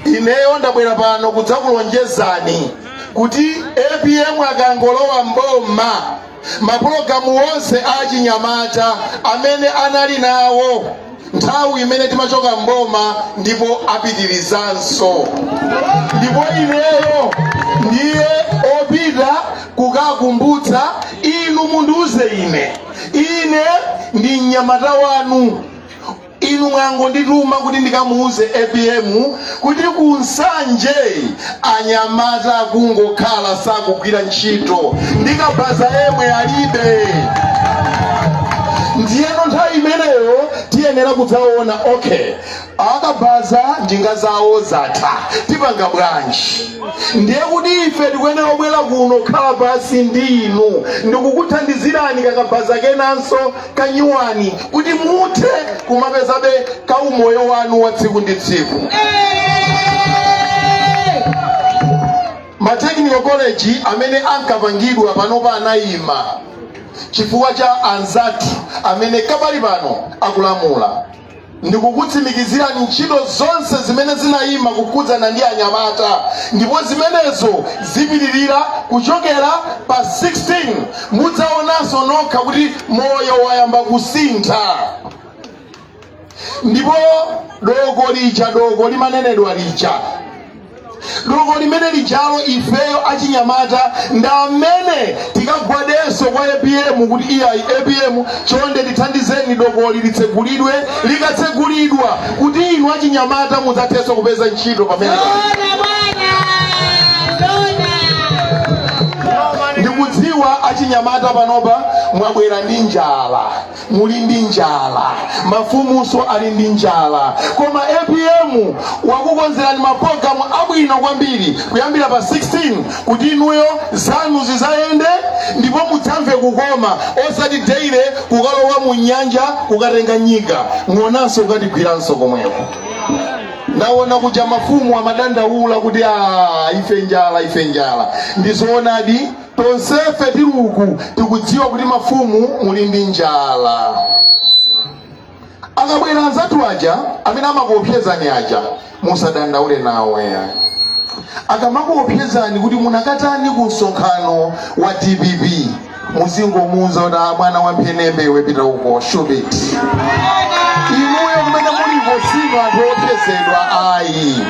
ineyo ndabwera pano kudzakulonjezani kuti apm akangolowa mboma mapulogalamu onse a chinyamata amene anali nawo nthawi imene timachoka mboma ndipo apitirizanso ndipo ineyo ndiye opita kukakumbutsa inu mundiuze ine ine ndi mnyamata wanu Inu mwangondituma kuti ndikamuuze apm kuti ku Nsanje anyamata akungokhala sakugwira ntchito ndi kabaza yemwe alibe. Ndiyeno nthawi imeneyo tiyenera kudzaona okay, akabaza njinga zawo zatha tipanga bwanji? Ndiye kuti ife tikuyenera kubwera kuno kukhala pansi ndi inu ndikukuthandizirani kakabaza kenanso kanyuwani kuti muthe kumapezabe ka umoyo wanu wa tsiku ndi tsiku ma technical college amene ankapangidwa panopa anayima chifukwa cha anzathu amene kapali pano akulamula ndikukutsimikizirani ntchito zonse zimene zinayima kukhudzana ndi anyamata ndipo zimenezo zipitirira kuchokela pa 16 mudzaonanso nokha kuti moyo wayamba kusintha ndipo doko lija doko limanenedwa lija doko limeneli lijalo ifeyo achinyamata ndi amene tikagwadenso kwa apm kuti iyayi apm chonde tithandizeni dokoli litsegulidwe likatsegulidwa kuti inu achinyamata mudzathenso kupeza ntchito pamene ndikudziwa achinyamata panopa mwabwera ndi njala muli ndi njala mafumunso ali ndi njala koma apm wakukonzerani mapulogalamu abwino kwambiri kuyambira pa 16 kuti inuyo zanu zidzayende ndipo mudzamve kukoma osati deire kukalowa mu nyanja kukatenga nyika ng'onanso ukatigwiranso komweko ndawona kuja mafumu amadandaula kuti a ife njala ife njala ndizoonadi Tonsefe tili uku tikudziwa kuti mafumu muli ndi njala. Akabwera anzathu aja amene amakuopsezani aja musadandaule nawo ayi. Akamakuopsezani kuti munakatani ku msonkhano wa dpp muzingomuuza kuti "Ah, mwana wa mphenembe iwe pita uko shupiti. Inuyo kumene muliko sinu anthu opsezedwa ayi.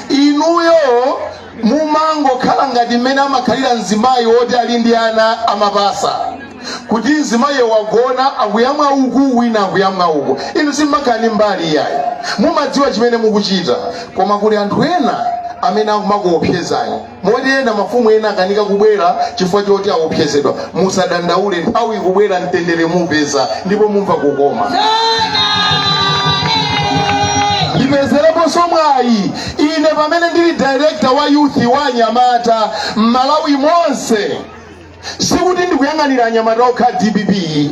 Inuyo mumangokhala ngati mmene amakhalira mzimayi woti ali ndi ana amapasa kuti mzimayiyo wagona akuyamwa uku wina akuyamwa uku inu simumakhala ndi mbali iyayi mumadziwa chimene mukuchita koma kuli anthu ena amene akumakuopsezani moti ena mafumu ena akanika kubwera chifukwa choti aopsezedwa musadandaule nthawi ikubwera mtendere mupeza ndipo mumva kukoma ndipezereponso mwayi Ine pamene ndili director wa youth wa anyamata m'Malawi monse sikuti ndikuyang'anira anyamata okha a dpp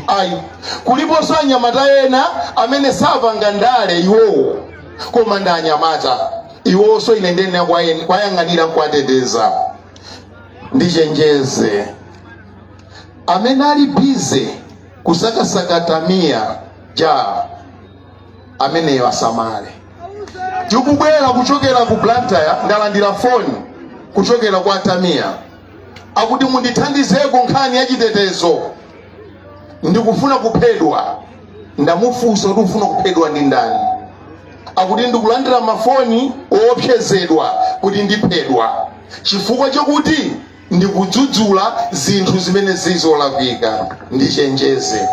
ayi kuliponso anyamata ena amene sapanga ndale iwowo koma ndi anyamata iwonso ine ndiyenera kwayen- kwayang'anira nkuwateteza ndichenjeze amene ali bize kusakasaka Tamiya ja ameneyo asamale. Tikubwera kuchokera ku Blantyre, ndalandira foni kuchokera kwa Tamiya akuti mundithandizeko nkhani ya chitetezo, ndikufuna kuphedwa. Ndamufunsa kuti ufuna kuphedwa ndi ndani? Akuti ndikulandira mafoni oopsezedwa kuti ndiphedwa chifukwa chakuti ndikudzudzula zinthu zimene zili zolakwika ndichenjeze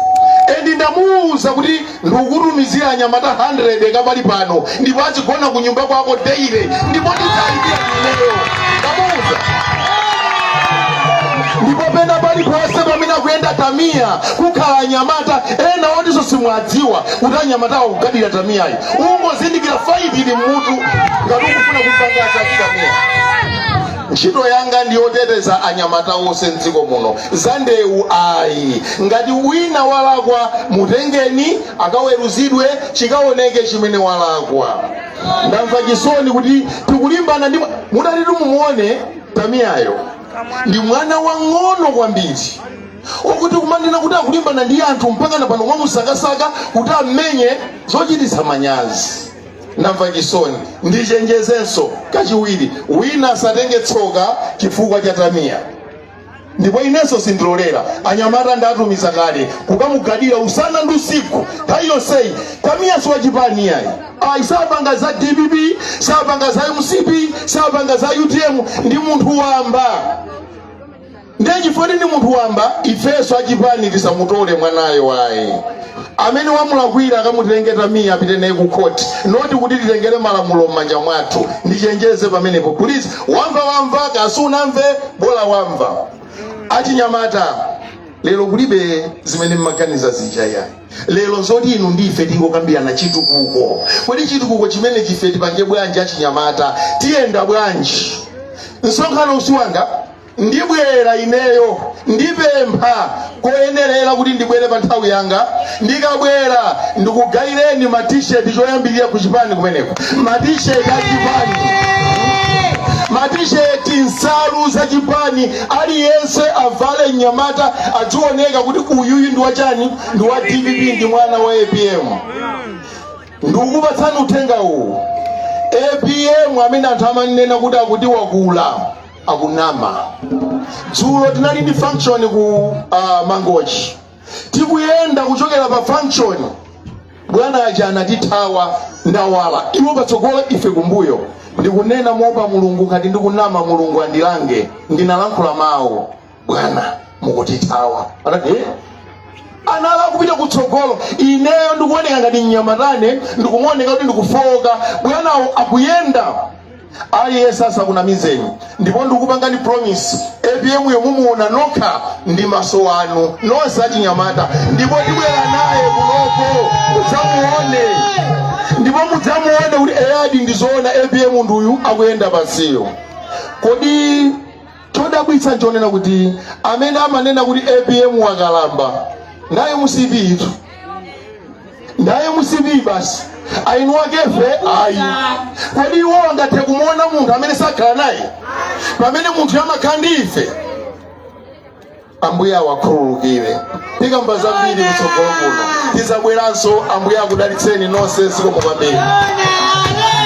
endi ndamuwuza kuti ndikukutumizira anyamata 100 kapali pano ndipo azigona ku nyumba kwako daily ndipo ndidzalipira ineyo ndamuwuza ndipo pena paliponse pamene akuyenda tamiya kukhala anyamata ena otinso simwadziwa kuti anyamatawa akugadira tamiyayi ungozindikira faiti ili mmutu ngati ukufuna kumpanga za zii tamiya ntchito yanga ndi yoteteza anyamata onse mdziko muno za ndewu ayi ngati wina walakwa mutengeni akaweruzidwe chikaoneke chimene walakwa ndamva chisoni kuti tikulimbana ndi mutati mumuone tamiyayo ndi mwana wang'ono kwambiri okuti kumanena kuti akulimbana ndi anthu mpaka na pano kumamusakasaka kuti amenye zochititsa manyazi ndamva chisoni ndichenjezenso kachiwiri wina asatenge tsoka chifukwa cha tamiya ndipo inenso sindilolera anyamata ndatumiza kale kukamugadira usana ndi usiku nthawi yonseyi tamiya si wachipani iyayi ayi sapanga za dpp sapanga za mcp sapanga za utm ndi munthu wamba ndiye chifukwa ndi munthu wamba ifenso achipani tisamutole mwanayo ayi amene wamulakwira akamutenge iye apite naye ku khoti not kuti titengere malamulo m'manja mwathu ndichenjeze pamenepo please wamva wamva kasi unamve bola wamva achinyamata lero kulibe zimene mmaganiza zija iyayi lero nzoti inu ndi ife tingokambirana chitukuko kodi chitukuko chimenechi ife tipange bwanji achinyamata tiyenda bwanji msonkhano uwu si wanga ndibwera ineyo ndipempha koyenerera kuti ndibwere pa nthawi yanga ndikabwera ndikugayireni matisheti choyambirira ku chipani kumeneko matisheti a chipani matisheti nsalu za chipani aliyense avale mnyamata adzioneka kuti uyuyu ndi wachani ndi wa dpp ndi mwana wa apm ndikukupatsani uthenga uwu apm amene anthu amanena kuti akuti wakula akunama dzulo tinali ndi function ku uh, mangochi tikuyenda kuchokera pa function bwana aja anatithawa ndawala iwo patsogolo ife kumbuyo ndikunena moopa mulungu ngati ndikunama mulungu andilange ndinalankhula mawu bwana mukutithawa anati "Eh?" anali akupita kutsogolo ineyo ndikuoneka ngati mnyamata ine ndikumaoneka kuti ndikufowoka bwanawo akuyenda ayi asakunamizeni ndipo ndikupangani promise apm yo mumuona nokha ndi maso anu nonse achinyamata ndipo tibwera naye kunoko mudzamuone ndipo mudzamuone kuti eyadi ndizoona apm nduyu akuyenda pansiyo kodi Chodabwitsa nchonena kuti amene amanena kuti apm wakalamba ndi a mcp tu ndi a mcp basi aeni akefe ayi kodi iwo angathe kumuona munthu amene sakhala naye pamene munthu amakhala ndi ife ambuye awakhululukire tikamba zambiri kutsogolo kuno tizabweranso ambuye akudalitseni nonse zikomo kwambiri